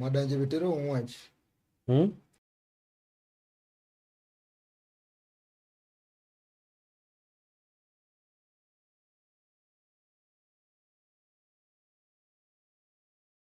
Madanje Vetero onde? Hum?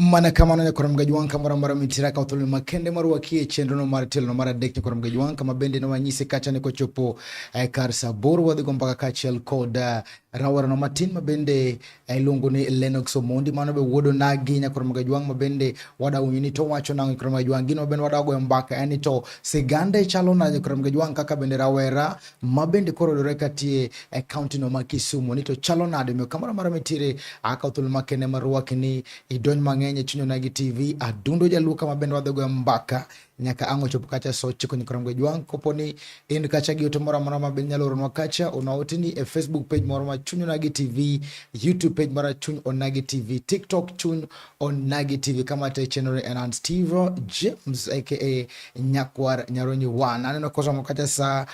mana kamano nyakoro mga jwang' kamoro amora mitira ka othuolo makende marwaki e chenrono mar tielo mar adek nyakoro mga jwang' kama bende ne wanyise kacha ni kochopo eh, kar saa aboro wadhi go mbaka kaachiel kod eh, rawerano matin mabende eh, iluongo ni Lennox Omondi mano be wuodo nagi nyakoro mga jwang' mabende wadawinyo ni to wacho nang'o nyakoro mga jwang' gino mabende wadagoyo mbaka en ni to sigande chalo na nyakoro mga jwang' kaka bende rawera ma bende koro yudore katie e kaunti no ma Kisumu ni to chalo nade miyo kamoro amora mitiere akaw thuolo makende marwaki ni idonj mang'eny e chuny onagi TV adundo jaluo kama bende wadhi goyo mbaka nyaka ang' ochopo kacha so chiko nyikrom gi jwang' kopo ni in kacha gi ote moro amora ma bende nyalo oronwa kacha ona ote ni e Facebook page moro ma chuny onagi TV YouTube page mara chuny onagi TV TikTok chuny Onagi TV kama te chenore Enan Stevo James aka Nyakwar Nyaronyi Wan. Aneno kosa mokata sa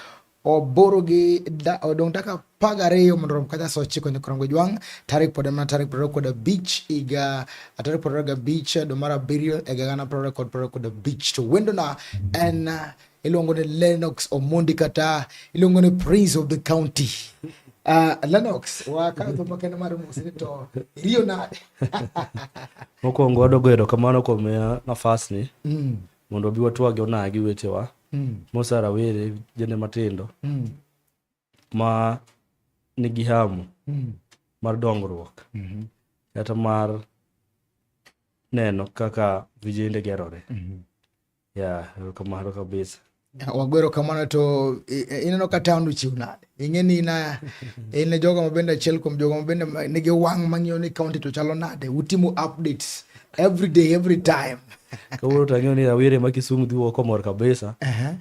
oboro gi da, odong daka paga reyo mondo rom kata sa ochiko nyaka rom gojwang' tarik pod mana tarik prariyo kod abich iga tarik prariyo gabich dwe mar abiriyo e gana prariyo kod prariyo kod abich to wendona en iluongo ni Lennox Omondi kata iluongo ni Prince of the County. Uh, Lennox wakadho makende mar mosni to iriyo nade? Mokwongo wadogo erokamano kuom miya nafasni mm. mondo obi watwagi onagi wetewa mm. Musa Rawere jende matindo mm. ma nigi hamu mm. mar dongruok mm -hmm. kata mar neno kaka vijende gerore mm -hmm. ya erokamano kabisa wagwero kamano to ineno ka taon ochiw nade ing'e ni ina in e jogo mabende achiel kuom jogo mabende nigi wang' mang'iyo ni kaunti to chalo nade utimo updates every day every time kawuono to ang'eyo ni awire ma kisumu dhi wuok omor kabisa uh -huh.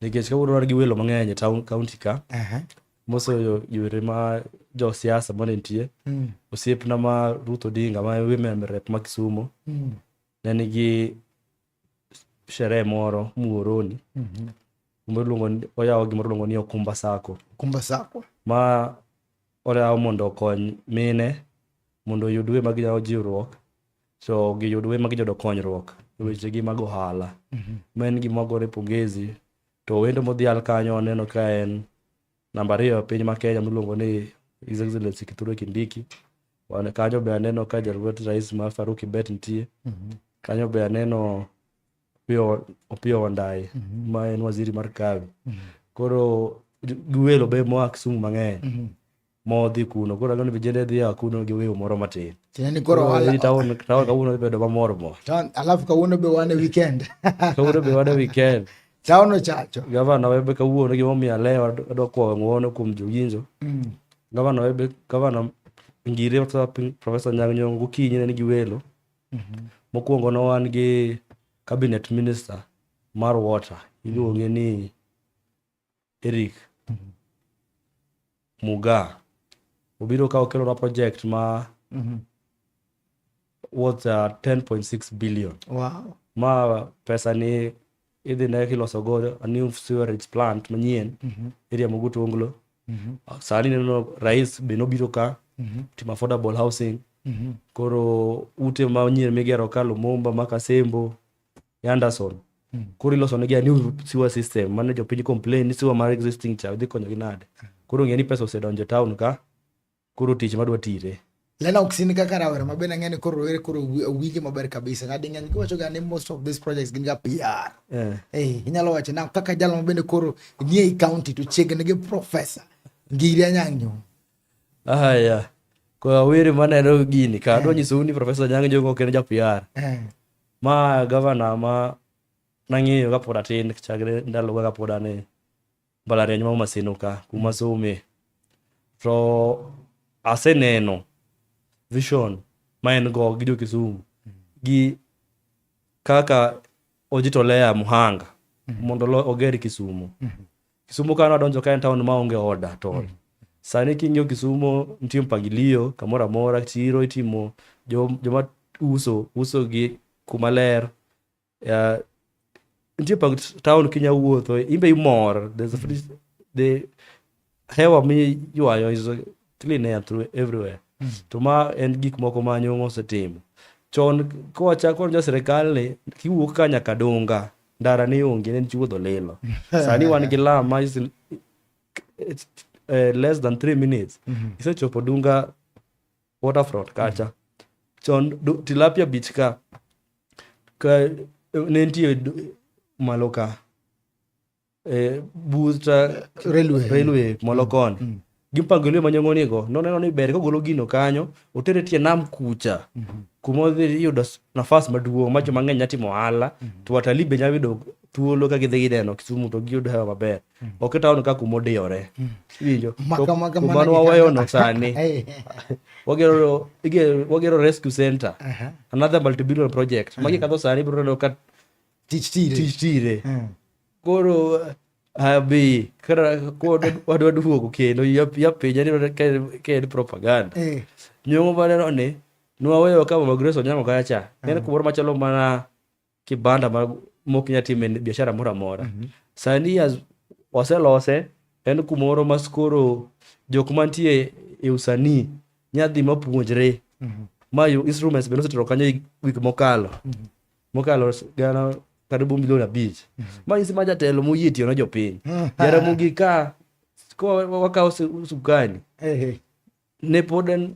Nikech kawuono wan gi welo mang'eny e town county ka. Aha. Mosoyo yore ma jo siasa mane nitie. Mm. Osiepna ma Ruth Odinga ma women rep ma Kisumo Mm. ne nigi sherehe moro Muhoroni. Mhm. Kumbe iluongo ni- oyawo gimoro iluongo ni Okumba Sacco. Kumba sako. ma oyaw mondo okony mine mondo oyud we ma ginyalo jiwruok so giyud we magijodo konyruok e wechegi mag ohala mhm. ma en gima gore pongezi to wendo modhial kanyo aneno ka en namba ariyo e piny ma kenya miluongo ni his excellency kithure kindiki wan kanyo be aneno ka jalwet rais ma faruki bet nitie mhm. kanyo be aneno opiyo wandayi mhm. ma en waziri mar kawi koro giwelo be moa kisumu mang'eny modhi kuno koro aneno ni vijende dhi a kuno gi wiu moro matin tinani koro wala taon taon kawuono dhi bedo mamor mor taon alafu kawuono be wane weekend kawuono be wane weekend taon ochacho gavana webe kawuono gima omiyo alewa adwa kwawo ng'uono kuom jowinjo mm. gavana webe gavana ngire kata profesa nyang' nyong' gokinyi ne nigi welo mm-hmm. mokwongo ne wan gi cabinet minister mar water iluonge ni Eric Muga obiro ka okelona project ma worth uh, 10.6 billion Wow. ma pesa ni idhi ne kiloso go a new sewerage plant manyien area moguto onglo sani neno rais be nobiro ka timo affordable housing koro ute manyien migero ka lumumba ma kasembo e Anderson hmm. koro iloso negi new sewer system mane jopiny complain ni sewer mar existing cha dhi konyogi nade koro ng'e ni pesa osedonjo e town ka koro tich madwa tire lena oksini kaka rawera ma bende ang'e ni koro rowere koro winje maber kabisa ng'adi ng'eny giwacho ga ni most of these projects gin ga PR eh. eh inyalo wacho na kaka jalo ma bende koro nie i county to chiegni gi professor ngiri anyang' nyong aya ah, kwa were maneno gini ka adwa eh. nyisou ni professor nyang' nyong ok en ja PR eh. Ma gavana ma nang'eyo kapod atin chakre ndaloga kapod an e mbalariany ma Homa Sino ka kuma some to aseneno vision ma en go gi jo Kisumu gi kaka ojitolea muhanga mondo lo- oger Kisumu Kisumo kano adonjo ka en taon ma onge order at all. Mm. Sani king'iyo Kisumo nitie mpangilio kamoro amora, chiro itimo, joma uso uso gi kuma ler. Uh, nitie pang town kinya wuotho, imbe imor. There's a free, mm. the hewa miywayo is clean air through everywhere mm. to ma en gik moko ma nyong'o osetimo chon kowachako jo sirikal ni kiwuok ka nyaka donga ndara ne onge ne chiwuodho lilo sani wan gi lam ma is, eh, less than three minutes mm -hmm. isechopo dunga waterfront kacha mm -hmm chon tilapia beach ka ka ne nitie malo ka e, buta railway, railway molokoni mm. mm. gipango lwe manyong'onigo noneno ni ber kogolo gino kanyo otere tie nam kucha mm -hmm. kuma odhi yudo nafas maduong' ma joma ng'eny nyatimo ohala mm -hmm. to watalii be nyalo yudo thuolo ka gidhi gineno Kisumu to giyud hewa maber mm. ok itaon ka kuma odiyore mm. winjo kumano waweyono sani wagero wagero rescue center uh -huh. another multibillion project uh -huh. magi kadho sani biro neno ka tich tire tich tire mm. koro abi wadwa duogo kendo yapenja ni ka en propaganda eh. nyongo maneno ni nwaweyo ka mama grace onyango kaya cha mm. en kumoro machalo mana kibanda mok nya time biashara moro amora mm-hmm. sani waselose en kumoro mas koro jok mantie e usanii nyadhi mapuonjre mm-hmm. ma instruments be nosetero kanyo wik mokalo mm-hmm. mokalo gana kata bu milion abich mm. manyisi ma jatelo moyie tiyo na jopiny mm. jaramogi ka wakawo sukani ne pod en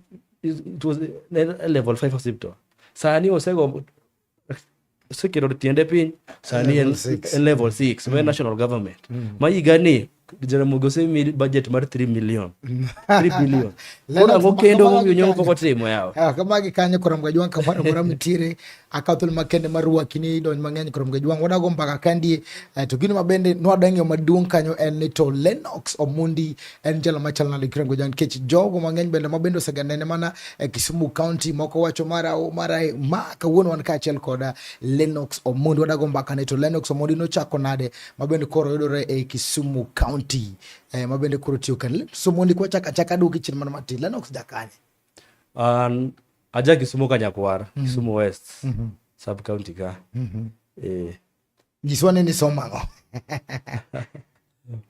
level five hospital sani osego oseketo tiende piny sani en level six ma mm. national government ma higani Jaramogi osemi budget mar 3 million 3 billion koro ang'o kendo momiyo nyongo pok otimo yawa ah, kama gi kanyo korom ga jwang kamoro amora mitiere akawo thuolo makende mar rwaki ni idony mang'eny korom ga jwang wadago mbaka kandie eh, to gino mabende nwadwa ng'eyo maduong' kanyo en ni to Lennox Omondi en jalo machal nade kirango jwang nikech jogo mang'eny bende mabende oseganene mana e Kisumu County moko wacho mara mara ma kawuono wan kaachiel koda Lennox Omondi wadago mbaka ni to Lennox Omondi nochako nade mabende koro yudore e Kisumu County eh, mabende koro tiyo kan somo ndiko chaka chaka duki chini mana matin Lennox jakanye an aja Kisumu kanyakwara mm -hmm. Kisumu West mm -hmm. sub county ka mm -hmm. eh nyiswa ni somo ang'o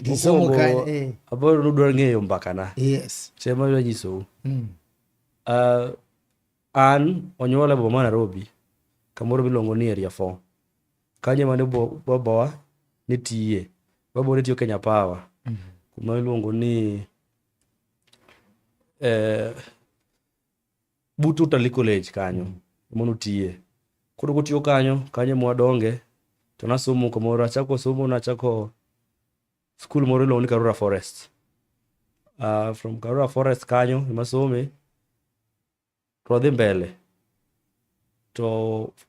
Kisumu ka eh aboro nudwar ng'eyo mbaka na yes chema yo nyisou mm. uh, an onyuola e boma Nairobi kamoro miluongo ni area 4 Kanyo ema ne bo- babawa ne tiye. Babawa ne tiyo Kenya Power. Kuma iluongo ni eh, but Utalii College kanyo ema notiye. Koro kotiyo kanyo, kanyo ema wadonge to nasomo kamoro achako somo nachako skul moro iluongo ni Karura Forest. Ah, from Karura Forest kanyo ema some to wadhi mbele to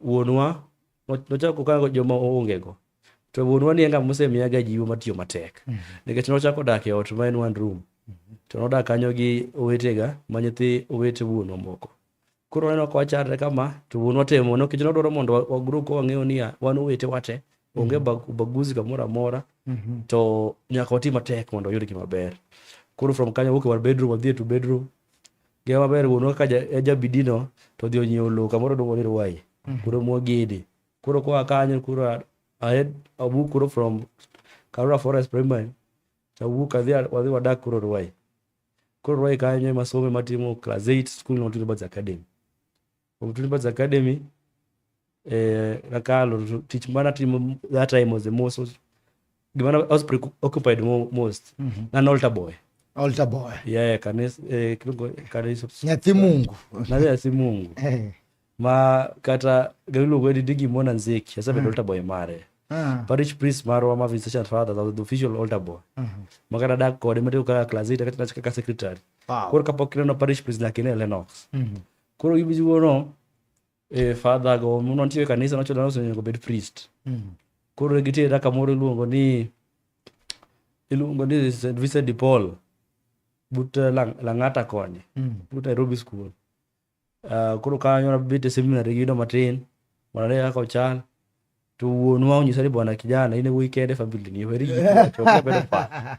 wuonwa nochako kango joma oongego to wuonwa ni enga mosemiya ga jiwo matiyo matek mhm. nikech nochako dak e ot ma en one room mhm. to nodak kanyo gi owetega ma nyithi owete wuonwa moko koro waneno ka wacharre kama to wuonwa temo nikech nodwaro mondo wagro ka wang'eyo niya wan owete wate onge mhm. baguzi kamoro amora to nyaka wati matek mondo wayud gima ber koro from kanyo wuok e war bedroom wadhi e to bedroom Ngima maber wuonwa kaka ja- e jabidino to odhi onyiewo lowo kamoro iluongo ni Ruai. Koro mogede. Koro koa kanyo koro a- ahed awuok koro from Karura Forest Primary tawuok adhi a- wadhi wadak koro Ruai. Koro Ruai kanyo ema asome matimo class 8 skul no Twitter Birds Academy. From Tulipads Academy, eh, Rakalo, teach mana timo that time was the most, was, gimana, I was preoccupied mo- most. Mm -hmm. An altar boy. Altar boy. Yeah, kanisa, eh, kilungo, kanisa. Nyathi Mungu. Nyathi si Mungu. Eh. Ma kata gailuongo ni digi mona nzeki, asebedo mm. altar boy mare. Ah. parish priest marwa ma visitation father that was the official altar boy uh -huh. makana da kode mate kaka class 8 kata nachika ka secretary wow. kor kapok kineno parish priest lakini Lennox mm -hmm. koro gi bizi wono e father go muno ntie kanisa no chodan osenyo go bed priest mm. koro ne gitera kamoro iluongo ni iluongo ni St. Vincent de Paul but uh, lang, Lang'ata koni mm. but Nairobi school uh, koro kanyo nabet e seminary gino matin mondo ane kaka ochal to wuonwa onyisa ni bwana kijana in e wuoyi kende famili ni weri ji chokebedo pa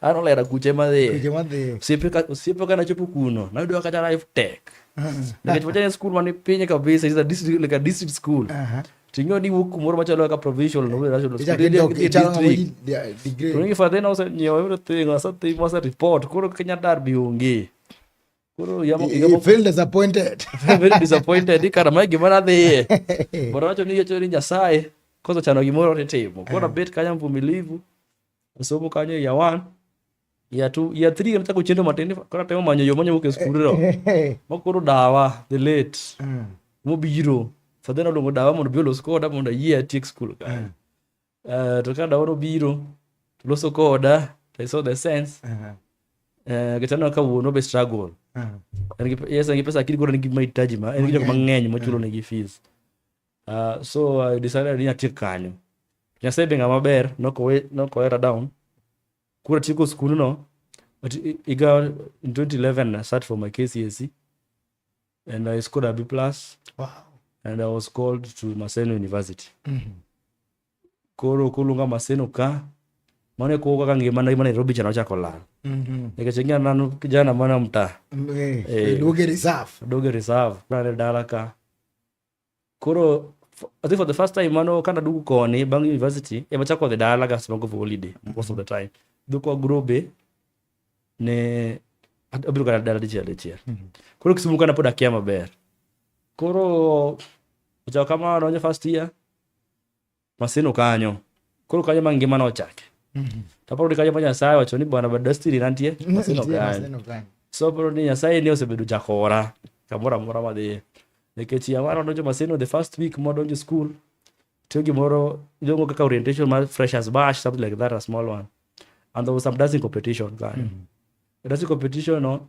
An olera kuche madhiye. Kuche madhiye. Osiepe ka osiepe ka nachopo kuno, nayudo kata life tech. Nikech wachane skul man ni piny kabisa, is a district like a district school. Aha. Ting'eyo ni wuok kumoro machalo kaka provincial no national school. Ichaki Idhi- dok- idhi ichalo district. ng'ama ji- dia- degree. Rongi fadhina osenyiewo everything, asetimo, asereport, koro Kenya Derby onge. Koro yamo You- yamo you feel disappointed. very disappointed kara mae gima nadhiye but wacho ni yacho ni nyasaye kosechano gimoro titimo koro abet kanya mvumilivu osomo kanyo ya one ya two ya three anataka uchende matende kora temo manyo yo manyo ke skuru ro makoro dawa the late mm. mo biro so then odongo dawa mondo biolo skoda mondo yie atiek skul ka mm. uh, to ka dawa biro to loso koda to i saw the sense uh -huh. uh, kitano ka wuono be struggle uh -huh. yes ngi pesa kiri gora ngi mahitaji ma ngi jok mang'eny machulo mm. negi fees Uh, so I decided ni atiek kanyo. Nyasaye be ng'ama ber nokowe nokowera down. Kura tieko skul no but iga in 2011 I sat for my KCSE and I scored a B plus. Wow. And I was called to Maseno University. Mm -hmm. Koro kulunga Maseno ka mane ko kaka ngima na Nairobi chana chako lal. Mm -hmm. Nikachengia nanu kijana mwana mtaa. Mm -hmm. Eh, doge reserve. Doge reserve. Kuna dala ka. koro I think for the first time mano kana dugu koni bang university ema chako dhi dala gas mago for holiday most of the time duko grobe ne abiro kana dala dichiel dichiel mm-hmm. koro kisumu kana pod akia maber koro ochawo kamano onye first year Maseno kanyo. Koro kanyo ma ngima nochake. Mhm. To aparo ni kanyo ma Nyasaye wacho ni bwana bad destiny nantie. Maseno kanyo. So aparo ni Nyasaye ni osebedo jakora kamoro amora madhiye. Nikech yamara donjo Maseno the first week modonjo school tiyo gimoro iluongo kaka orientation mar freshers bash something like that a small one and there was some dancing competition kanyo mm. dancing competition no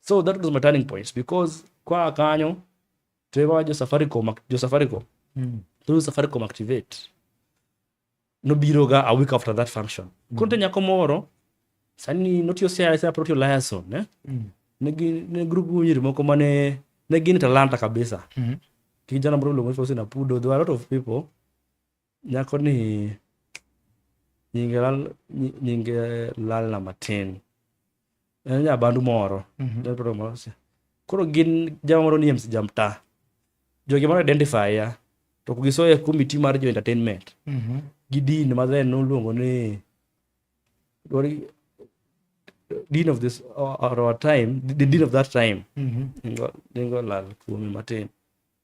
So that was my turning point because kwa kanyo tuewa jo Safaricom jo Safaricom mm. through Safaricom activate nobiro ga a week after that function mm. kunte nyako moro sani notio sia sia protio liaison ne mm. ne gin ne group nyiri moko mane ne gin talanta kabisa mm -hmm. kijana moro luongo Faustin Apudo there were a lot of people Nyako ni nyinge lal nyinge lal na matin. En nya bandu moro. Mm -hmm. Del program moro. Koro gin jama moro ni MC Jamta. Jogi moro identify ya. To kugiso ya committee mar jo entertainment. Mm -hmm. Gidin ma then noluongo ni Dori dean of this or, or our time the dean of that time mm -hmm. ningo, ningo lal kuome matin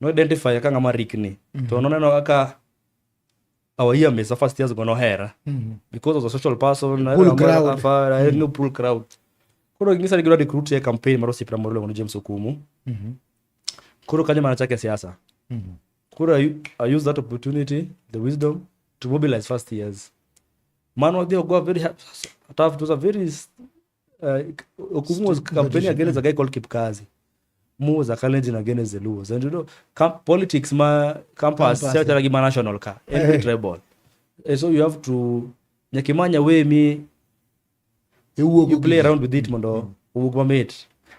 no identify ka ng'ama rikni mm -hmm. to noneno kaka our year mesa first years go nohera mm -hmm. because of the social person pool crowd afara mm -hmm. no pool crowd koro ngisa ni gidwa recruit ye campaign mar osipra moro luongo ni James Okumu mm -hmm. koro kanyo mana chake siasa mm -hmm. koro I, I use that opportunity the wisdom to mobilize first years man wadhi ogoa very tough it was a very Eh, kumuzi kampeni yake inaweza kai call kipkazi muza kalenji na gene zeluo and you know com politics ma campus sio tara kima national ka every eh. tribal eh, so you have to nyakimanya we mi you play around with it mondo mm. uwuok mamit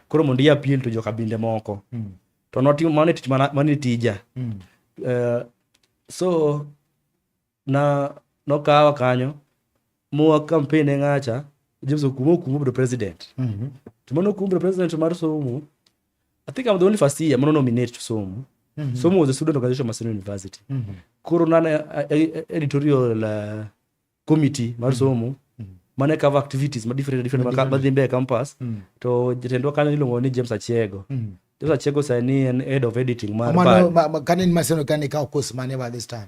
koro mondo i appeal to jokabinde moko mm. to not mano tich mano tija mm. so na nokawa kanyo mowa campaign e ng'acha James Okumu Okumu obedo president mm -hmm. to mano Okumu obedo president mar somo I think I'm the only first year mano nominate to somo mm -hmm. somo was a student organization Maseno University mm -hmm. koro nana eh, eh, eh, editorial uh, committee mar mhm. somo mm -hmm mane cover activities ma different different ma madhi mbele campus mm. to jatendwa kanyo iluongo ni James Achiego mm. James Achiego sani en head of editing mar ma, ma, ma, kane ni maseno kane ka course mane by this time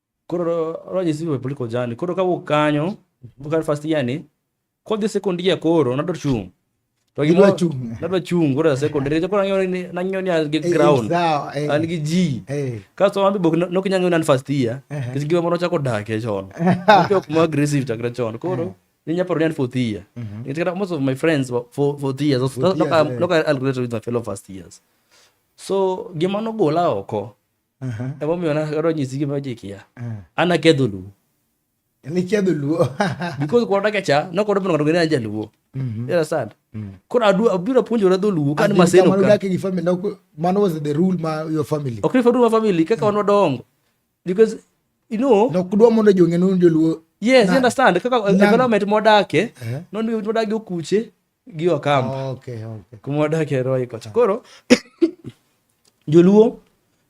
Koro roje siwe political journey. Koro ka wuok kanyo, mhm. wuok first year ni, kodhi second year koro nadwa chung'. To gi nadwa chung'. Nadwa chung' koro second year. Koro nanyo ni nanyo ni gi eh, eh, ground. Eh. An gi ji. Kasto ambi bok nok nyanyo nan first year. Kis giwa mono chako dak e chon. Koro kuma aggressive chakra chon. Koro ninya paro ni fourth year. Mhm. It's got most of my friends for for the years. Look at look at I'll graduate with my fellow first years. So gima nogola oko. emomiyo nakadonjo e sigi majikia an aketho luo niketho luo because koro dakecha nokoro bino ng'ato ng'eyo jaluo mm-hmm. you understand mm. koro adwa abiro apuonjora dho luo kan maseno ka dak gi family no man was the rule ma your family ok ni family family kaka wan wadongo because you know no kudwa mondo jong'e nun joluo yes you understand kaka environment modake eh? non environment modake okuche gi Wakamba. Okay, okay. Kuma wadak e Roy kocha. Koro Joluo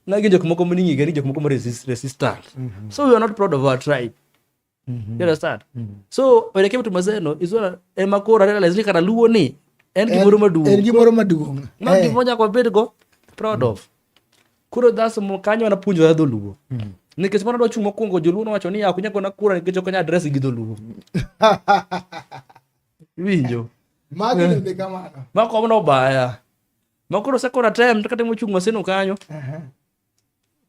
na gin jok moko ming'e gani jok moko resist, resistant. Mm -hmm. So we are not proud of our tribe. Mm -hmm. You understand? Mm -hmm. So when it came to Mazeno, is what Emma Kora realized kana Luo ni en gimoro maduong'. En gimoro maduong'. Ma hey. Eh. gimoro nyaka wabed go proud mm -hmm. of. Koro that's mo kanyo wanapuonjore dholuo. Mm -hmm nikech mano dwa chung' mokwongo joluo nowacho ni ok nyagona kura nikech ok nya adres gi dholuo Winjo. Magi eh. bende kamano. Ma kom no baya. Ma koro second attempt kata mochung' maseno kanyo.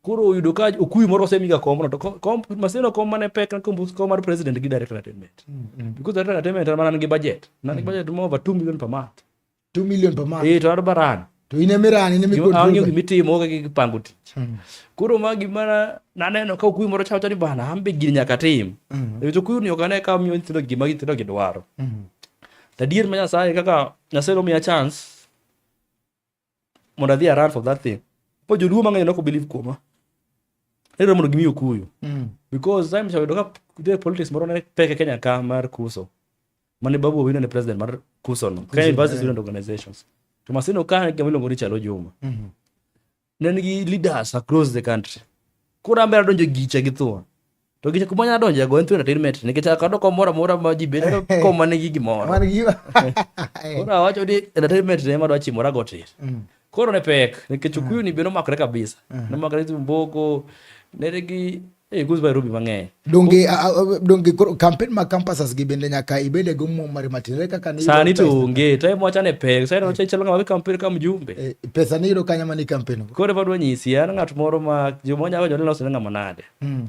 Koro oyudo ka okuyu moro osemiga komno to kom maseno kom mane pek kom kom mar president gi director entertainment. Mm, mm. Because director entertainment man gi budget. Nan gi mm. budget mo over 2 million per month. 2 million per month. Eh, to barani. To in emirani in emikod. Awinjo gima itimo ka gipango tich. Hmm. Koro ma gima naneno ka okuyu moro chawacho ni bana an be gini nyaka tim. Hmm. Nikech okuyu ni ok ane ka miyo nyithindo gima nyithindo gidwaro. Hmm. To adier ma Nyasaye kaka Nyasaye nomiya chance mondo adhi aran for that thing. Po joluo mang'eny nok believe kuoma. Ere mondo gimi okuyu. Because time chawayudo ka politics moro ne pek e Kenya ka mar kuso. mane babu owino ne president mar kusono kenya university student organizations to maseno ka gima iluongo ni chalo juma mhm. ne nigi leaders across the country koro ambera donjo gicha gi thua to gicha kuma nyalo donjo go en thua entertainment nikech akado komoro amora ma ji bedo koma nigi gimoro koro awacho ni entertainment ne madwa chimora gotir mm. Koro ne pek nikech Okuyu ni bende omakore kabisa. Mm. Nomakore tu Mboko, neregi Hey, eh, goes by Ruby mang'eny. Donge donge campaign ma campuses gi bende nyaka ibede go mo mari matin re kaka ni. Sani to onge, to mo chane pek, sani oche chelo ng'awa campaign ka mjumbe. Eh, pesa ni ro kanya mani campaign. Kore badwa nyisi an ng'at moro ma jomonya go jolilo sene ng'ama nade. Mm.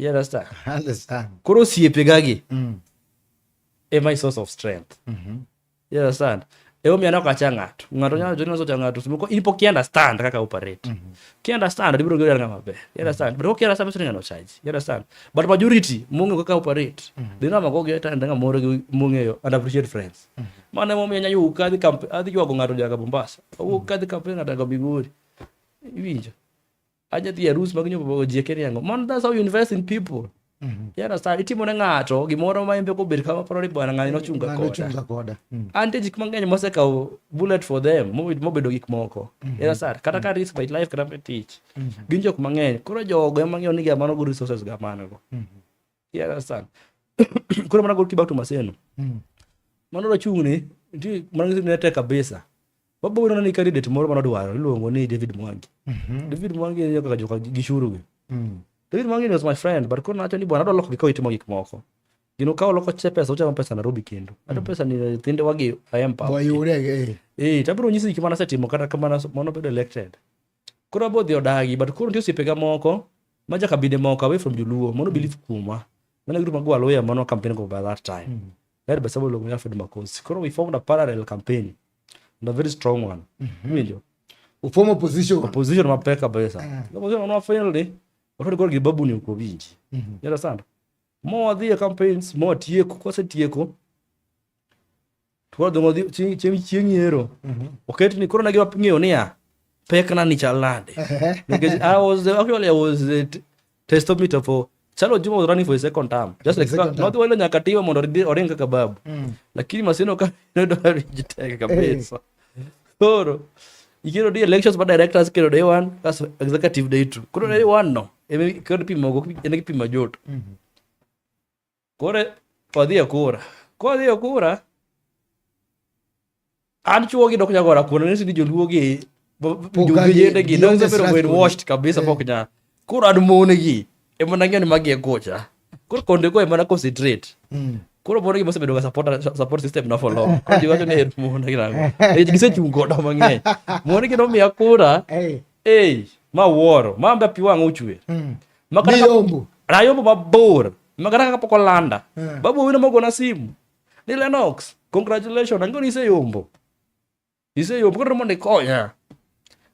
You understand? I understand. Koro osiepegagi mm. e my source of strength. Mm -hmm. You understand? E omiyo aneno kacha ng'ato. Ng'ato nyalo joni naso cha ng'ato. Moko in pok understand kaka operate. Mm -hmm. Ki understand ibiro gero ng'ama maber. You understand? Mm -hmm. But ki understand meso ng'ano charge. You understand? But majority mungu kaka operate. Mm -hmm. Dino mago ge ta ndanga moro gi mungeyo and appreciate friends. Mm -hmm. Mane mo miya nyayu kadhi kamp adhi jwago ng'ato jaga Mombasa. Owuok mm -hmm. kadhi kamp ng'ato jaga Bigori. Iwinjo? aja dhi arus mag nyombo bago jieke ni ang'o man that's how you invest in people mm-hmm. you understand itimo ne ng'ato gimoro ma embe kobed kama paro ni bwana ng'ani nochunga koda koda mm. ante jik mang'eny mosekawo bullet for them mobedo gik moko mm-hmm. you understand kata ka risk my life kata me tich mm-hmm. gin jok mang'eny koro jogo ema ng'eyo ni ga mano go resources ga mano go Yeah, that's that. Kuna mana goalkeeper to Maseno. Mm. Mano rachung'ne, nti mana ngisi ne tek kabisa. Babu wino nani candidate moro mano dwaro, iluongo ni David Mwangi. Mm -hmm. David Mwangi ni kaka joka gishuru gi. Mm. David Mwangi was my friend, but kuna nacho ni bwana adwa loko gikaw itimo gik moko. Gino kaw loko che pesa, uchamo pesa Nairobi kendo. Ato mm. pesa ni thinde wagi ayempa. Wayure ge. Eh, tabiro nyisi gik mana setimo kata kamana mano bedo elected. Koro abo dhi odagi but koro nitie osiepega moko ma ja kabinde moko away from joluo mono believe mm. kuomwa. Mano group magwa lawyer mono campaign go by that time. Mm. Led by Samuel Ong'oya Fred Makosi. Koro we formed a parallel campaign and a very strong one. Mm -hmm. Winjo. We form opposition. Opposition mapek kabisa. Mm. Opposition wana finally wakati kwa gibabu ni uko vinji. Mm -hmm. You understand? Mo wadhi campaigns, mo tieko, kose tieko. Koro dongo chieng' chieng' chieng' yiero. Mhm. Oket ni koro ne giwa ng'eyo niya pekna ni chal nade. Nikech I was the, actually I was the t- testometer for Chalo Juma was running for his second term. Just like Second term. not wale nyaka tiwa mondo oridi- oring kaka babu. Mm. Lakini masino ka nodo jiteka kabisa. Koro ikiro di elections ba directors kiro day one kas executive day two. Koro day one no. Eme kod pimo go ene kipimo joto. Mhm. Koro odhi e kura. Kodhi e kura, an chuogi dok nyagora kuno ni sidi joluogi jowinjendegi dok sebedo brainwashed kabisa pok eh. nya. Koro an monegi ema nang'eyo ni magi e gocha. Koro konde go ema na concentrate. Hmm. Koro mono gima osebedo ga support support system na for long. Koro jiwacho ni en mono gi nango. Eh, gisechung' godo mang'eny. Mono gi nomiya kura. Eh. Ei, ma wuoro, ma ambe pi wang' ochwer. Mm. Nayombo. Nayombo mabor. Makata kaka pok olanda. Mm. Babu wino mogona simu. Ni Lennox, congratulations, ang'o ni iseyombo. Iseyombo, koro mondo ikonya.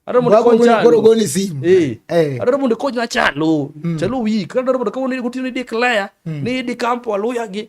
Adwaro mondo ikony chalo. Koro goni simu. Eh. eh. Adwaro mondo ikonyna chalo. Mm. Chalo wik. Adwaro mondo kawuono gotieno ni declare mm. ni idi kampo aluya gi.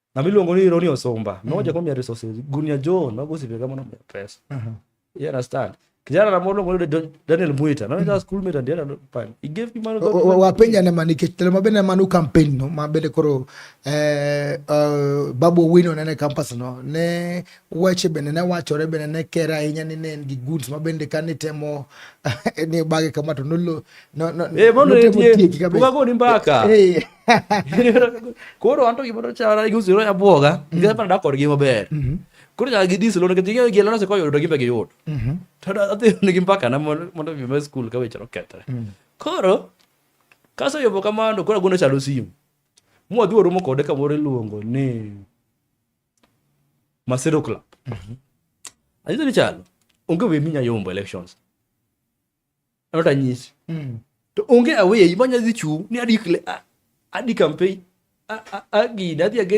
na miluongo ni Roni Osumba mm. noja kwa mia resources gunia jo na gosi vega mono mia pesa uh -huh. you understand kijana na mono ngolo Daniel Muita na ndio mm. school mate ndio ndo pan he gave me money wa penya na manike tele mabene manu campaign no mabene koro eh uh, babu wino na ne campus no ne wache bene na wacho re bene ne kera inya ni ne gi goods mabende kani temo ne bage kama to nolo no no eh mono ne tie ukago ni mbaka eh, eh. koro anto gima nochara gi usiro ya bwoga nikech mm. pana dak kodgi maber mm-hmm. koro nyaka gidis lono nikech ging'eyo gi lono sekoyudo to gimbe giyud mm-hmm. to adhi nigi mbakana mondo mi ma skul ka weche nokethre mm. koro kaseyobo kamano koro agone chalo simu mwadhi waromo kode kamoro iluongo ni masiro club mm-hmm. anyiso ni chalo onge we minya yombo elections not a nyis mm. to onge away manya dhi chung ni adi kle adi campaign agi na dhi age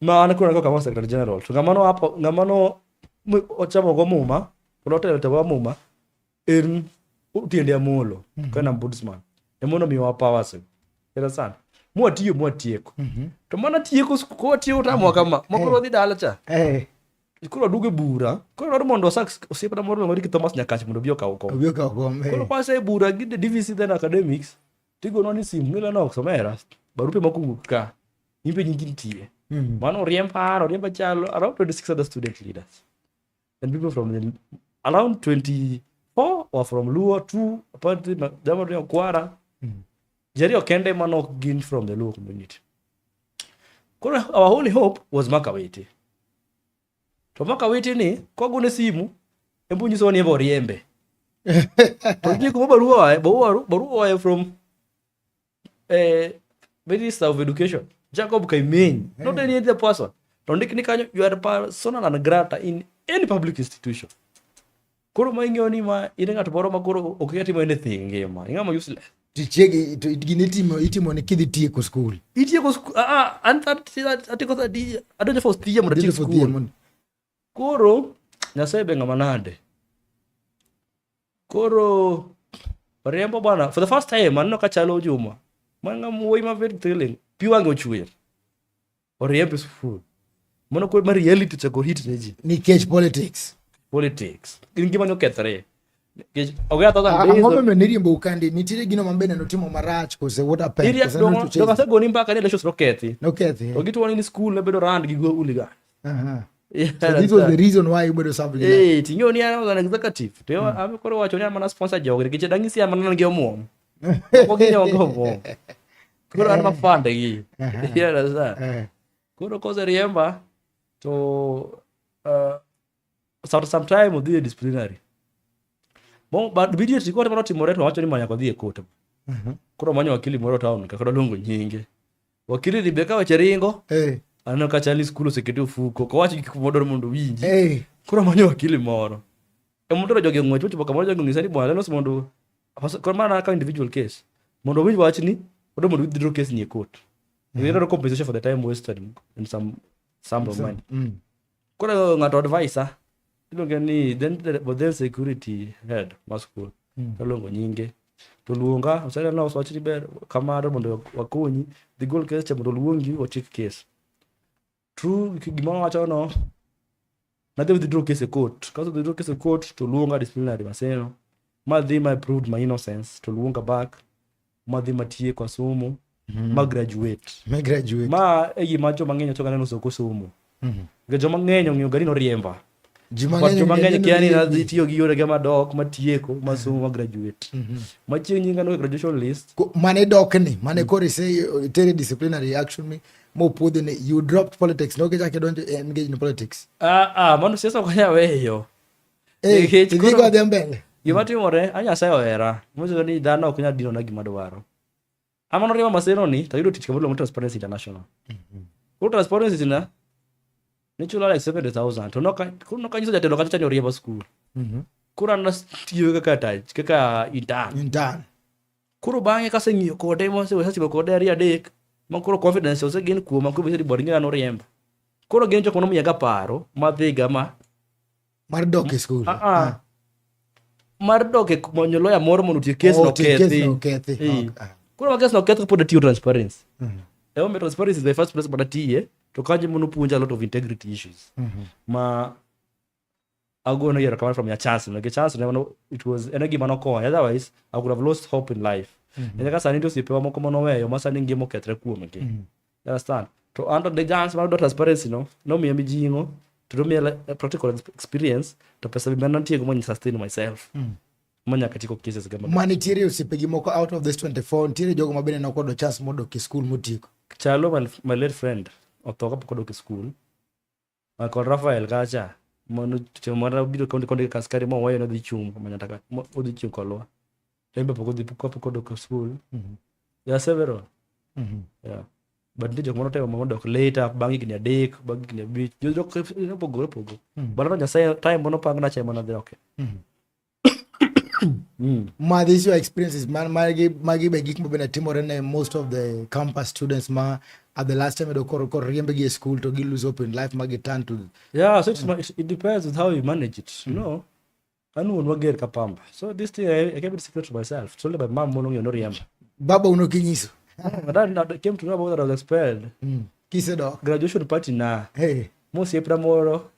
ma an koro kama secretary general to ngama no apo ngama no ochamo go muma kendo otelo te go muma en tiende amolo mm -hmm. kana ombudsman emono miwa powers era sana mwatiyo mwatieko mm -hmm. to mana tieko ko watieko ta mwaka ma mokoro eh. dhi dala cha eh koro aduogo e bura koro dwaro mondo osak osiepna moro miluongo ni Thomas Nyakach mondo obi okaw kom obi okaw kom eh. koro kwase e bura gi the DVC then academics tigono ni simu nila no somera barupe moko wuok ka in be nyingi nitie mm. mano oriemb an oriemb achalo around 26 other student leaders and people from the, around 24 or from luo two apparently jama to kwara mm. jari okende mano ok gin from the luo community koro our only hope was makawete To maka witi ni kogo ne simu embu nyiso ni boriembe. To ji kuma barua barua barua from eh Minister of Education Jacob Kaimeny hey. not any other person. To ndik ni kanyo you are persona non grata in any public institution. Koro ma ing'eyo ni ma in ng'at moro ma koro ok inyal timo anything ngima. Ing'ama useless. Tichegi to gini itimo itimo ni kidhi tieko skul. Itieko skul ah, ah an atieko thadi adonjo first year mondo atiek skul. Koro Nyasaye be ng'ama nade. Koro Oriembo bwana for the first time aneno ka chalo Juma. Man ng'ama wuoyi ma very thrilling. Pi wang'e ochwer. Oriembe skul. Mono kod ma reality chako hit ne ji. Nikech politics. Politics. Gin gima ne okethore. Nikech oge atho than days. Ang'o momiyo niriembo ukandi? Nitiere gino ma bende notimo marach kose what happened? Iri at dongo, dongo ase goni mbaka ni elections nokethi. Nokethi. Ogi tuwani ni skul ne bedo rand gi go uliga. Aha. Yeah, so this was the reason why you bedo something like. Eh, tinyo ni an executive. To hmm. ame koro wacho ni amana sponsor jogre. Kiche dangisi amana ngi omuom. Ogi nyogo omuom. koro an mafande gi you understand eh. koro koseriemba to uh, after some time odhi e disciplinary but immediately kote mano timore to wacho ni manyaka odhi e court mhm. koro manyo wakili moro town kaka doluongo nyinge wakili ni be ka weche ringo eh. aneno ka chali skul osekete ofuko kowach gik modor mondo winji eh. koro manyo wakili moro e mondo to jogi ong'wech ochopo kamoro jogi onyisa ni bwana lelos mondo koro mana naka individual case mondo owinj wach ni odo mondo withdraw case ni e court mm. you know compensation for the time wasted in some some of money mm. koro ng'ato advisor iluonge ni then but then security head ma school mm. taluongo nyinge to luonga oseneno wach ni ber kamano mondo wakonyi dhi gol case cha mondo oluongi ochik case True, gima wacho no nadhi withdraw case e court. Kaso withdraw case e court to luonga disciplinary maseno. Ma dhi ma proved my innocence to luonga back. Ma dhi matie kwa somo. Mm. Ma graduate. Ma graduate. Ma e gima joma ng'eny ochoka neno soko somo. Mm. Ga joma ng'eny ong'eyo gari no riemba. ji mang'eny kia ni nadhi tiyo gi yorege madok matieko masomo ma graduate mhm. machieng' nyinga no e graduation list mane dokni mane mm. koro ise uh, tere disciplinary action mi mopuodhi ni you dropped politics no kichak idonjo e engage in politics ah ah mano siasa ok anya weyo eh, idhigo adhi mbele gima timore a nyasaye ohera mosego ni dhano ok nyal dinona gima dwaro Ama no rima maseno ni to yudo tich kamoro mo Transparency International. Mm -hmm. Ko Transparency International ni chula like 70,000 to no ka ko no ka nyiso jatelo kata chanyo riembo skul. Mm -hmm. Kura na tiyo kaka tach kaka intern. Intern. Kuro bang'e kase ng'iyo kode mo se wesa kode ari adek ma kuro confidence ose gin kuoma kuro bisa di boringa no riembo. Kuro gin jok mano miyaga paro madhiga ma mar dok e skul ah, ah. mar dok e manyo loya moro mondo otie kes oh, nokethi ah. koro ma kes noketh kapod atiyo transparency mm. emomiyo transparency is my first place madatiye to kanyo mono puonja a lot of integrity issues mm-hmm. ma agono yero kamano from your chance no chance no it was ene gima nokonya otherwise i would have lost hope in life mm-hmm. ene ka sani ndio sipewa moko manoweyo ma sani ngima okethre kuomgi mm-hmm. You understand? To under the guns mar dwa transparency no, nomiya mijing'o, to nomiya like, eh, practical ex- experience, to pesa be mane atiyogo mondo sustain myself. Manyaka tieko cases ga maber. ma nitiere osiepegi moko out of this 24 nitiere jogo ma bende nokodo chance modok e skul motieko Chalo my, my late friend, otho kapok odok e school. Michael Rafael kacha mano to mara biro kaunti kaunti ka askari mo wayo nodhi chung manya taka mo- odhi chung kolwa embe pok odhi pok pok odok school Mhm. there are several Mhm. yeah but nitie jok moro temo mondo odok later bang' higni adek bang' higni abich jok opogore opogore Mhm. but ano nyasaye time mono pang na chema na dhi okay Mhm. mm. ma these your experiences man magi magi be gik mabende timore ne most of the campus students ma at the last time edo koro koro riembegi e school to gi lose hope in life ma gi turn to yeah so it's, mm. it, it depends with how you manage it mm. you know an wuon wager ka pamba so this thing I, I kept it secret to myself so my mom mono ng'eyo noriemba baba uno kinyiso my dad now came to know about that I was expelled mm. kisedo graduation party na hey. mosiepna moro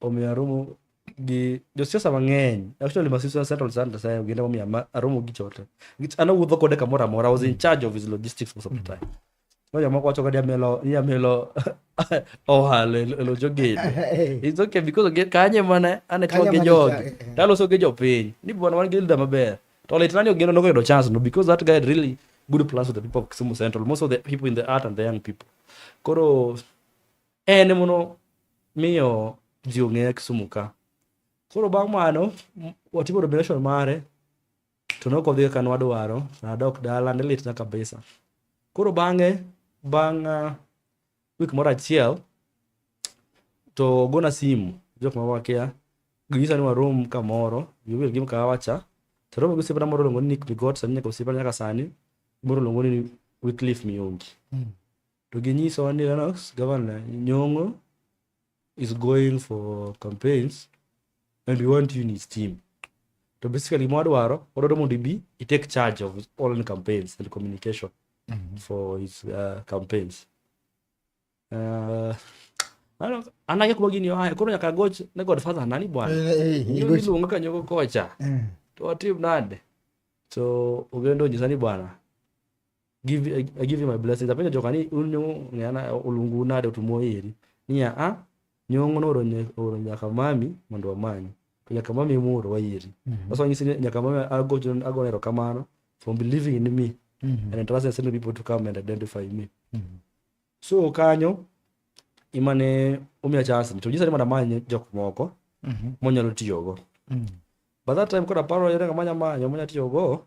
omiyo aromo gi josiasa mang'eny actually my sister settled Santa sayo ginde momiyo ama- aromo gi chote Nikech an awuotho kode kamoro amora I was in charge of his logistics most of the time no jomoko wacho kadi amelo ni amelo ohala e lo jogede it's okay because oge- kanye mana ane Kanye tiwa gi mana jogi cha- eh, eh. taloso gi jopiny ni bwana wan gi leader maber to litna ni ogeno nokoyudo chance no because that guy had really good plans with the people of Kisumu Central most of the people in the art and the young people koro en mono miyo ji ong'eya Kisumu ka. Koro bang' mano watimo nomination mare to nok odhi kaka nwadwaro, nadok dala ne litna kabisa. Koro bang'e bang' ah, wik moro achiel to ogona simu jok ma wakia ginyisa ni warom kamoro giwil gi mkahawa cha to romo gi osiepna moro luongo ni Nick Bigot sani nyaka osiepna nyaka sani moro luongo ni Wycliffe Miongi. to ginyisowa ni Lennox governor Nyong'o is going for campaigns and we want you in his team to basically mwadwaro wadwaro mondo ibi i take charge of his online campaigns and communication mm -hmm. for his uh, campaigns uh, anake kuma gini oaye koro nyaka goch ne godfather nani bwana eh, eh, eh, iluonga kanyogo kocha to watim nade so ogendo onyisa ni bwana give I, I give you my blessings apenjo joka ni un nyongo ng'ana olungu nade otumo iri niya a nyongo nooro nye- ooro nyaka mami mondo wamanyi to nyaka mami emoro wairi sasa wanyisi ni nyaka mami agocho agone erokamano from believing in me and entrusting certain people to come and identify me so kanyo imane omiya chance ni to nyisa ni mondo amany jok moko monyalo tiyogo by that time koro aparo yore kamanya manyo manya tiyogo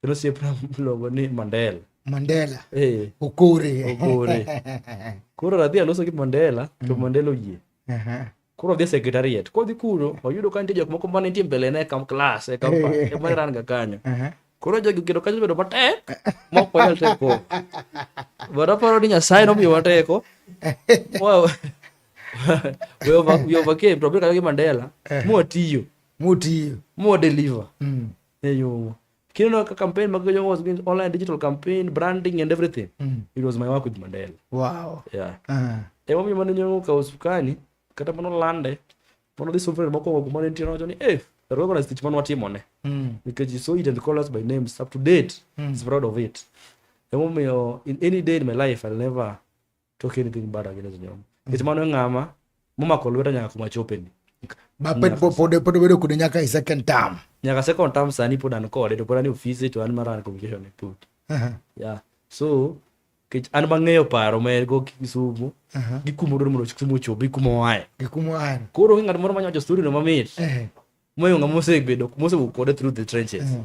Kendo osiepna miluongo ni Mandela. Mandela. Eh. Okore. Okore. Koro radhi aloso gi Mandela to mm. Mandela oyie. Aha. Koro odhi e sekretariat. Kodhi kuro, oyudo ka nitie jok moko ma nitie mbele ne kam klas e kam pa. Eh. Ema ran ga kanyo. Aha. Koro jogi kedo kanyo bedo matek ma ok wanyal teko. But aparo ni Nyasaye nomiyo wateko. Wow. we overcame to obiro gi Mandela eh. mwatiyo mwatiyo mwadeliver mm. e yo kineno ka campaign mag Jomo was being online digital campaign branding and everything mm. it was my work with Mandela wow yeah uh -huh. e momiyo mane nyomo ka usukani kata mano lande mano dhi sufre mokwongo kuma ne nitie nowacho ni eh rogo na stich mano watimone mm. because you saw it and call us by names up to date mm. is proud of it e momiyo in any day in my life I'll never talk anything bad against Nyom. Nikech mano e ng'ama momako lweta nyaka kuma chopeni. Ma pod pod pod pod bedo kude nyaka e second term. Nyaka second term sani pod an kode to pod an e ofise to an mara an communication e put. Aha. Yeah. So kech an mang'eyo paro ma en go Kisumu. Aha. Gi kuma odwaro mondo Kisumu ochobi kuma oaye. Gi kuma an. Koro onge ng'at moro manyawacho story no mamit. Eh. Moyo ng'ama osebedo mosewuok kode through the trenches. Mhm.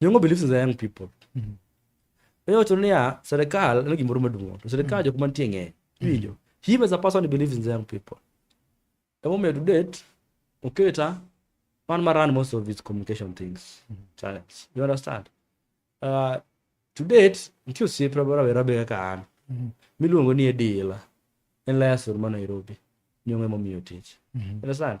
Nyongo believes in the young people. Mm-hmm. Eyo to niya serikal en gimoro maduong' to serikal mm-hmm. jok mantie ng'eny. Iwinjo? Mm-hmm. Him as a person believes in the young people. Emomiyo to date oketa man ma run most of his communication things mm-hmm. channels. You understand? Uh, to date nitie osiepe rawera be kaka an mm-hmm. miluongo ni Edila en layasur ma Nairobi nyong'e momiyo tich. Mm-hmm. You understand?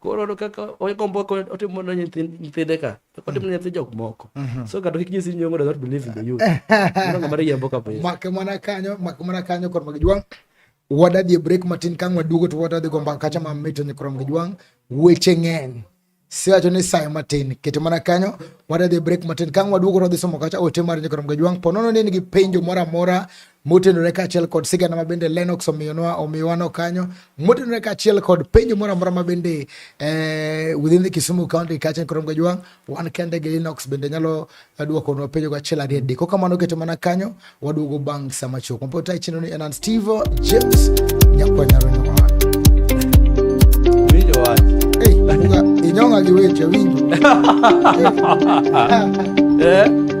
koro no kaka ogombo otimo ne nyithinde ka otimo ne nyathi jok moko mhm. so kata kik nyisi nyongo does not believe in the youth no ngama riembo kabisa make mana kanyo make mana kanyo kod mag jwang wadadhi break matin kang waduogo to wadadhi go mbaka kacha mam mito ni krom jwang weche ng'eny siwacho ni sayo matin kete mana kanyo wadadhi break matin kang waduogo to wadhi somo kacha ote mar ni krom jwang ponono ni nigi penjo mora mora motenore kaachiel kod sigana ma bende Lennox omiyonwa omiwano kanyo motenore kaachiel kod penjo moro amora ma bende eh, within the Kisumu county kaachiel kod Mgajwang' wan kende gi Lennox bende nyalo eh, dwokonwa penjo go achiel ariyo adek kokamano keto mana kanyo waduogo bang' sama chuok mapota e chenro ni en an Steve James Nyakwanyaronyowa Winjo wach. hey, inyong'a gi weche winjo Eh?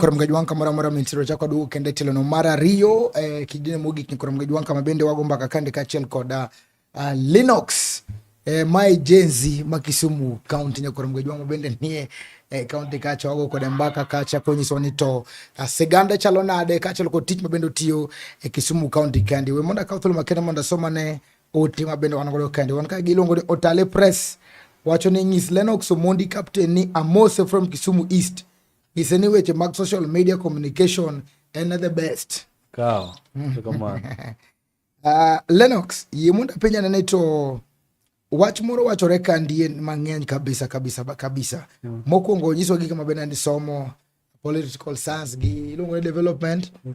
koromgej wan kamoro amora mintiere ochako duogo kendo e tilono mar ariyo eh, kidine mogik ni koromgej wan kama bende wago mbaka kande kaachiel kod uh, ah, linox eh, mae jenzi ma kisumu kaunti nya koromgej wan mabende nie eh, kaunti kacha wago kode mbaka kacha konyiso ni to uh, siganda chalo nade kaachiel kod tich mabende otiyo e eh, kisumu kaunti kandi we mondo akaw thuolo makende mondo asomane Ote ma bende wan godo kende wan ka giluongo ni Otale Press wacho ni nyis Lennox Omondi captain ni amose from Kisumu East nyise ni weche mag social media communication en the best. Kaw. Mm. uh, Lennox yie mondo apenja nene to wach moro wachore ka ndie mang'eny kabisa kabisa kabisa. Mm. Mokwongo nyiso gik ma bende ni somo political science gi iluongo ni development. Mm.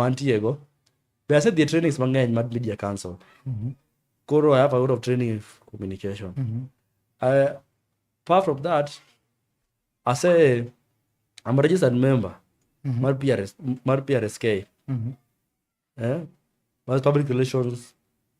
mantiego be asedhi e trainings mang'eny mag media council mm-hmm. koro i have a lot of training communication mm-hmm. I, apart from that ase i'm a registered member mm-hmm. mar prs mar prsk mm-hmm. eh? mas public relations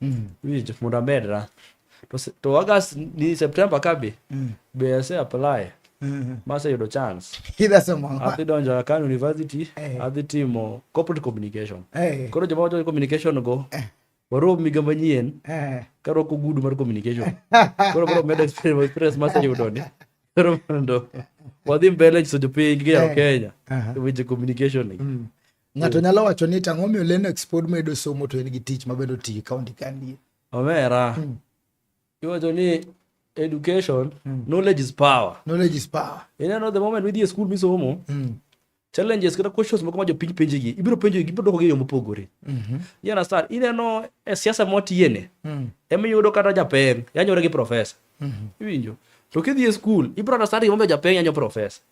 mm. wich mondo amed ra to, to august ni september kabi mm. be ase apply mm-hmm. maseyudo chance adhi donjo akan university hey. Eh. adhi timo corporate communication hey. Eh. koro joma wacho communication go hey. Eh. warom miga manyien hey. karwako gudu mar communication koro koro medo experience maseyudo ni koro mondo wadhi mbele nyiso jopiny gi jaro kenya weche communication ni mm. Ng'ato nyalo wacho ni tang'o miyo Lennox pod medo somo to en gi tich mabedo ti ka ondikandie. Omera. Hmm. Iwacho ni education, hmm. knowledge is power. Knowledge is power. Ineno the moment midhi e skul misomo, hmm. challenges kata questions moko ma jopiny penjigi, ibiro penjo ibiro dwokogi e yo mopogore. Mhm. You understand? Ineno e siasa mwatiyene, emiyudo kata japeng' yanyore gi profesa. Mhm. Iwinjo? To kidhi e skul, ibiro understand gimomiyo japeng' yanyo profesa.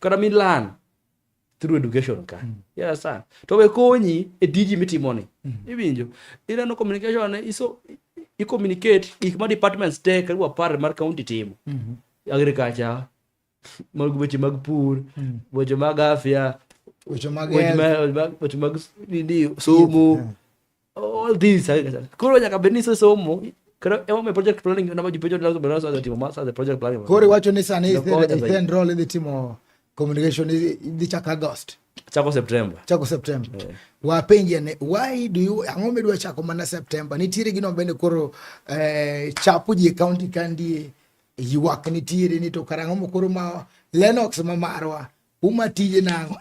kata mi learn through education ka mm. you understand to be konyi e tiji mitimoni mm. iwinjo ineno communication ne iso i communicate gik ma departments te karibu apar mar county timo mm -hmm. agriculture mag weche mag pur mm. weche mag afya weche mag somo all this koro nyaka bed ni isesomo koro emomiyo project planning nama ji penjo lazima lazima za timo masa the project planning koro iwacho ni sani stand role idhi timo communication idhi chako august chako september chako september yeah. wapenje ne why do you ang'o midwa chako mana september nitiere gino bende koro eh, chapo ji county kandi ywak nitiere ni to karang'o mokoro ma lenox ma marwa Uma tije nang'o?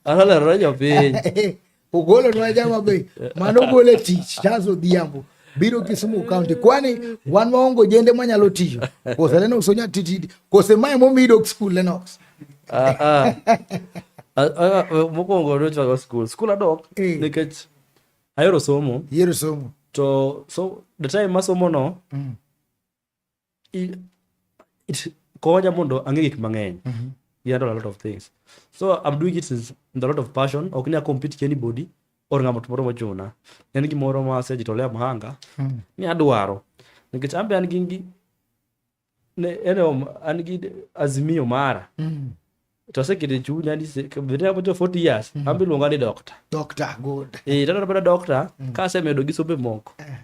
Alolero ne jopiny. Ogolo nwa jama be mano ogolo e tich Charles Odhiambo biro Kisumu County kwani wan waongo jende manyalo tiyo kose Lennox onya titidi kose mae momi dok skul Lennox ah, ah. ah, mokwongo nochwago skul skul adok eh. nikech ayero somo yero somo to so the time masomo no mm. konya mondo ang'e gik mang'eny mm -hmm. yeah, a lot of things so i'm doing it with a lot of passion ok nya compete ki anybody or ng'ama moro mochuna en gimoro ma asejitolea mhanga mm -hmm. ni adwaro nikech ambe an gi ne ene an gi azimio mara mm -hmm. to asekete chunya ni vete apo jo 40 years mm. ambe luonga ni doctor doctor good eh tata bada doctor mm. ka asemedo gi sobe moko eh.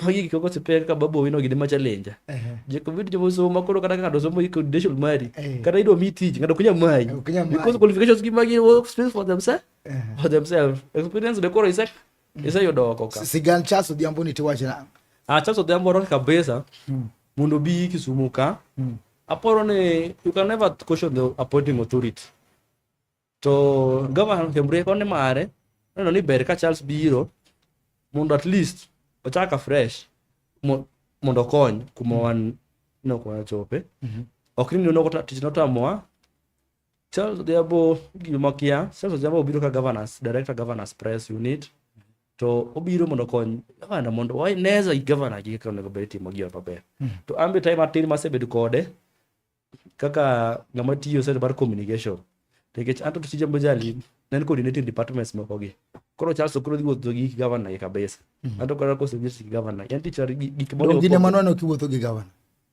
magi gik moko osepek ka babo wino gine ma challenge eh. je ko vitu jomo somo koro kata kaka dosomo iko credential mari eh. kata ido mi tich ngado kunya mai because qualifications gi magi work space for themselves for themselves experience de koro isek mm. iseyudo oko ka sigan Charles Odhiambo ni tiwache nang ah Charles Odhiambo rock kabisa mm. mondo bi Kisumu ka mm. aporo ni you can never question the appointing authority to governor Kembre kone mare neno ni ber ka Charles biro mondo at least ochaka fresh mondo okony kuma wan nokowachope mm -hmm. ok ni nogo tich notamowa Charles Odhiambo gima kia, Charles Odhiambo obiro ka governance, director governance press unit to obiro mondo okony gavana mondo waneza gavana gi kaka onego bed timo gi maber. Hmm. To ambe time atin masebedo kode kaka ngama tiyo sasa bar communication. Nikech anto to tija mbojali nen coordinating departments moko gi. Koro Charles okoro dhi wuotho gi gavana gi kabisa. Hmm. Anto koro kose gi gavana. Yanti char gik moko. Gine manwano kiwuotho gi gavana.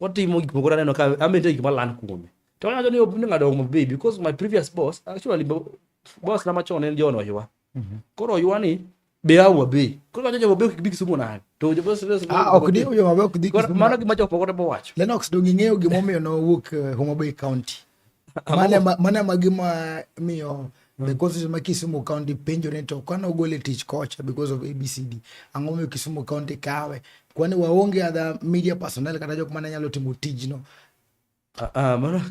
Watimo gik moko naneno ka amende gik malal kuome. To wacho ni obni ngado mo baby because my previous boss actually boss na machon en John Oywa. Mhm. Koro Oywa ni be awa be. Koro wacho jo be bi kisumo na. To jo boss boss. Ah ok di yo ma be ok di kisumo. Mano gima jo pokore bo wacho. Lennox dongi ng'eyo gimomiyo no wuok eh, Homa Bay County. Mane ma, mane ma gima miyo the mm. constitution ma Kisumu County penjo ni to kano gole tich kocha because of ABCD ang'o miyo Kisumu County kawe kwani waonge adha media personnel kata jok mane nyalo timo tijno ah, ah mano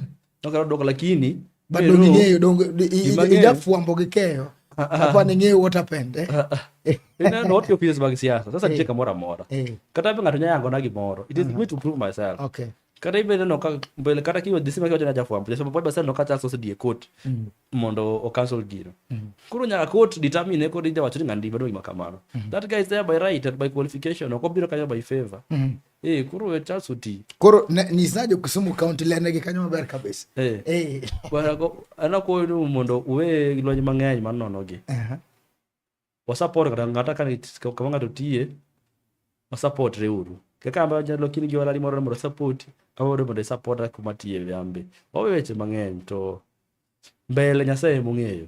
nokalo dok lakini bado ning'eyo dongo ijafuambo gi keyo ah, ah, hapa ning'eyo what happened eh? ineno what your feelings mag siasa sasa eh. nitie kamoro amora eh. kata be ng'ato nyayango na gimoro it is me to prove myself okay kata ibedo no ka mbele kata kiwa dhi sima kiwacho na jafwambo jafwambo pod basel no ka chas osedhi e court mm. mondo o cancel gino mm. koro nyaka court determine kod ija wacho ni ng'ani ndibado gima kamano mm. that guy is there by right and by qualification ok obiro kanyo by favor mm. Eh, koro we chas oti koro nyisa jo Kisumu county lene gi kanyo maber kabisa eh, eh. bwana ko ana ko mondo uwe lony mang'eny manono gi uh -huh. wasapot kata ng'ata ka kama ng'ato tiye wasapot reuru kaka amba jalo kini gi walali moro mondo sapoti awodo mondo isapot kuma tiye yambe wawe weche mang'eny to mbele nyasaye mong'eyo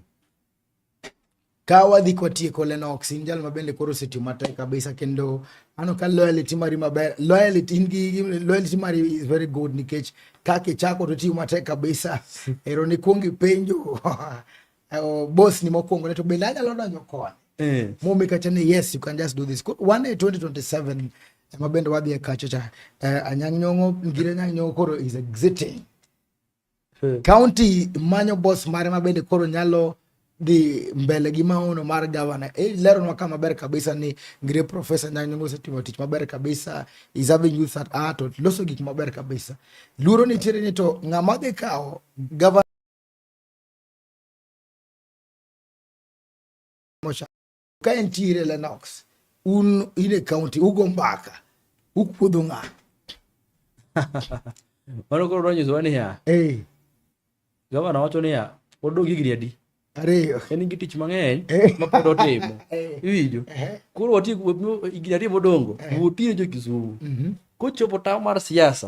ka wadhi kwatieko lenox in jal mabende koro osetiyo matek kabisa kendo ano ka loyalty mari maber loyalty in gi loyalty mari is very good nikech kaka ichako to tiyo matek kabisa ero ni kuongi penjo uh, boss ni mokwongo ne to bende anyalo donjo koni eh. momi kacha ni yes you can just do this one day 2027 ema bende wadhi e kacho cha uh, eh, anyang' nyong'o ngire anyang' nyong'o koro is exiting eh. county manyo boss mare ma bende koro nyalo dhi mbele gi maono mar gavana e, leronwa ka maber kabisa ni ngire profesa nyanyongo osetimo tich maber kabisa is having youth at art loso gik maber kabisa luoro nitiere ni to ng'ama dhi kawo gavana ka entiere Lennox un in e county ugo mbaka ukuodho ng'a mano koro nonyisowa niya hey. gavana wacho niya pod dog higni adi ariyo en gi tich mang'eny mapod otimo iwinjo koro wati higni ariyo modongo wotire jo kisumu mhm. kochopo tawo mar siasa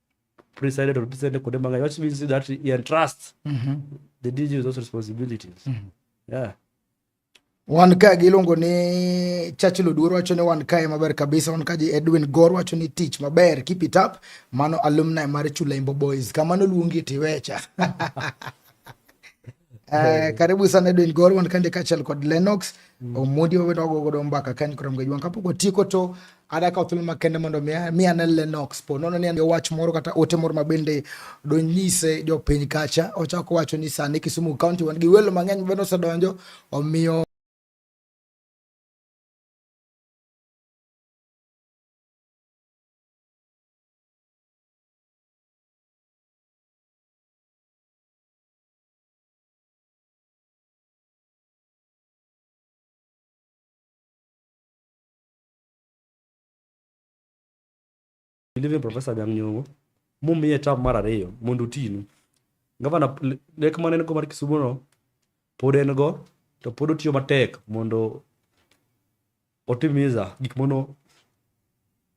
pre-signed or pre-signed Kodemanga, which means that he entrusts mm -hmm. the DG with those responsibilities. Mm -hmm. Yeah. Wan ka giluongo ni Churchill Oduor wacho ni wan kae maber kabisa. Wan kaji Edwin Gor wacho ni tich maber, keep it up. Mano alumni mar Chulaimbo Boys. Kamano luongi tiwecha. Uh, karibu sana Edwin Goro wan kande kachal kod Lennox mm. Omondi wawe nogo godo mbaka kany koro mgejwan kapok otieko to ada ka thuolo makende mondo mi ane Lennox po nono ni wach moro kata ote moro ma bende donyise jopiny kacha ochako wacho ni sani Kisumu County wan gi welo mang'eny ma bende osedonjo omiyo Believe in Professor Anyang' Nyong'o, mumiye term mar ariyo mondo otinu. Gavana lek mane en go mar Kisumo no pod en go to pod otiyo matek mondo otimiza gik mono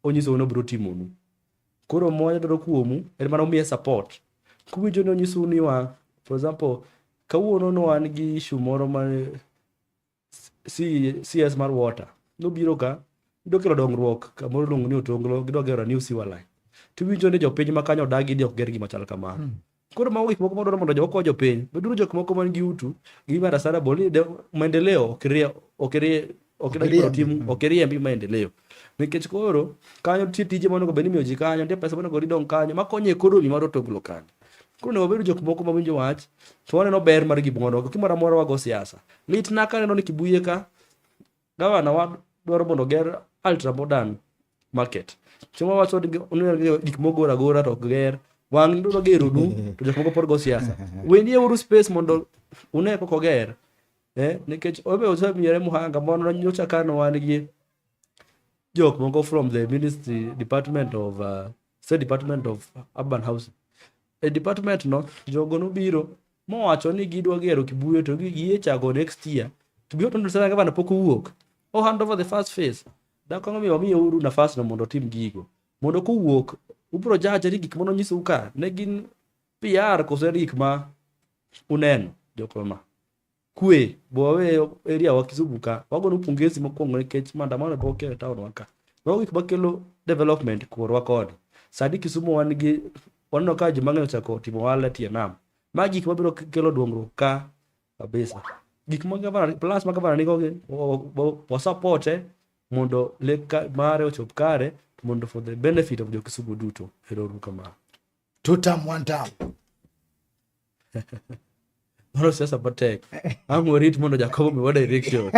onyiso ni obiro timonu koro moya dwaro kuomu en mana umiye support kuwinjo ni onyisou ni wa for example kawuono ne wan gi issue moro ma C- cs mar water nobiro ka idwa kelo dongruok kamoro iluongo ni otonglo gidwa gero new sewer line tiwinjo ni jopiny ma kanyo odagi ni ok ger gima chal kamano Koro mago gik moko madwaro mondo jogo jopiny. Beduru jok moko man gi utu gi mara sara boli de maendeleo ok rie ok rie ok rie ok tim mm. ok rie mbi maendeleo. Nikech koro kanyo nitie tije ma onego bed ni imiyo ji kanyo, nitie pesa ma onego idong kanyo ma konyo ekonomi mar otoglo kanyo. Koro onego wabedo jok moko ma winjo wach to waneno ber mar gimoro. Gimoro amora wago siasa. Litna ka aneno ni Kibuye ka gavana wa dwaro mondo oger ultra modern market chieng' wawacho ni onego gi- gik mogor agora to ok ger wang' dwaro geronu to jok moko pod go siasa wendi euru space mondo une koko ger eh, nikech obe osemiyore muhanga mondo nyocha kano wan gi jok moko from the ministry department of uh, se department of urban housing e department no jogo nobiro mowacho ni gidwa gero kibuye to giye chago next year to be open to sana gavana pok owuok o hand over the first phase dak ang'o miyo wamiyo uru nafas no mondo otim gigo mondo kowuok ubro jaje ni gik mono nyisou ka ne gin PR kose gik ma uneno jokoma kwe bowe area wa Kisumu ka wagono pongezi mokwongo nikech maandamano pok e town wa ka mago gik makelo development korwa koni sani Kisumu wan gi waneno ka ji mang'eny ochako timo ohala e tie nam ma gik mabiro kelo dongruok ka kabisa gik ma gavana plans ma gavana nigo gi wasapote mondo lek ka- mare ochop kare mondo for the benefit of jo Kisumu duto ero uru kamano Two term, one term. mano siasa matek ang' warit mondo jakobo miwa direction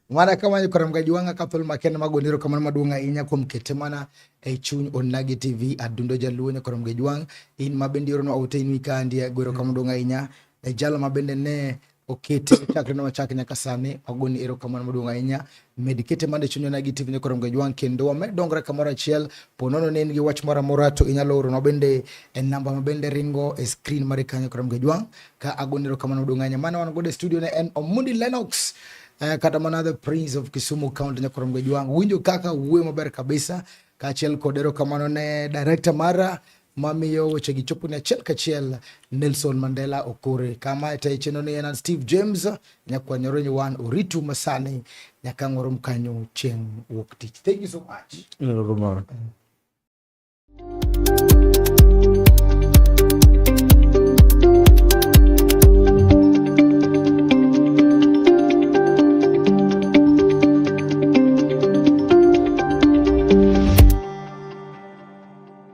mana kamano kora mga juwanga ka thol makende mag oniro kamano maduong' ahinya kuom kete mana e chuny onagi tv adundo jaluo nyakora mga juwang in ma bende ironwa ote in wikandi agwero kama duong' ahinya e jalo ma bende ne okete chakre na wachak nyaka sani wagoni erokamano maduong' ahinya med kete mande chunywa nagi tv ni korongo jwang' kendo wamed dongre kamoro achiel ponono ne in gi wach moro amora to inyalo oro na bende e namba ma bende ringo e screen mare kanyo korongo jwang' ka agoni erokamano maduong' ahinya mane wan godo e studio ne en Omundi Lennox eh, kata mana the prince of Kisumu county nyakorongo jwang' winjo kaka wuoyo maber kabisa kaachiel kod erokamano ne director mara mamiyo wechegi choponi achiel kachiel Nelson Mandela Okore kama e tayo chenro ni en Steve James nyakwanyoro nyiwan oritu masani nyaka ngoro mkanyo chieng' wuok tich thank you so much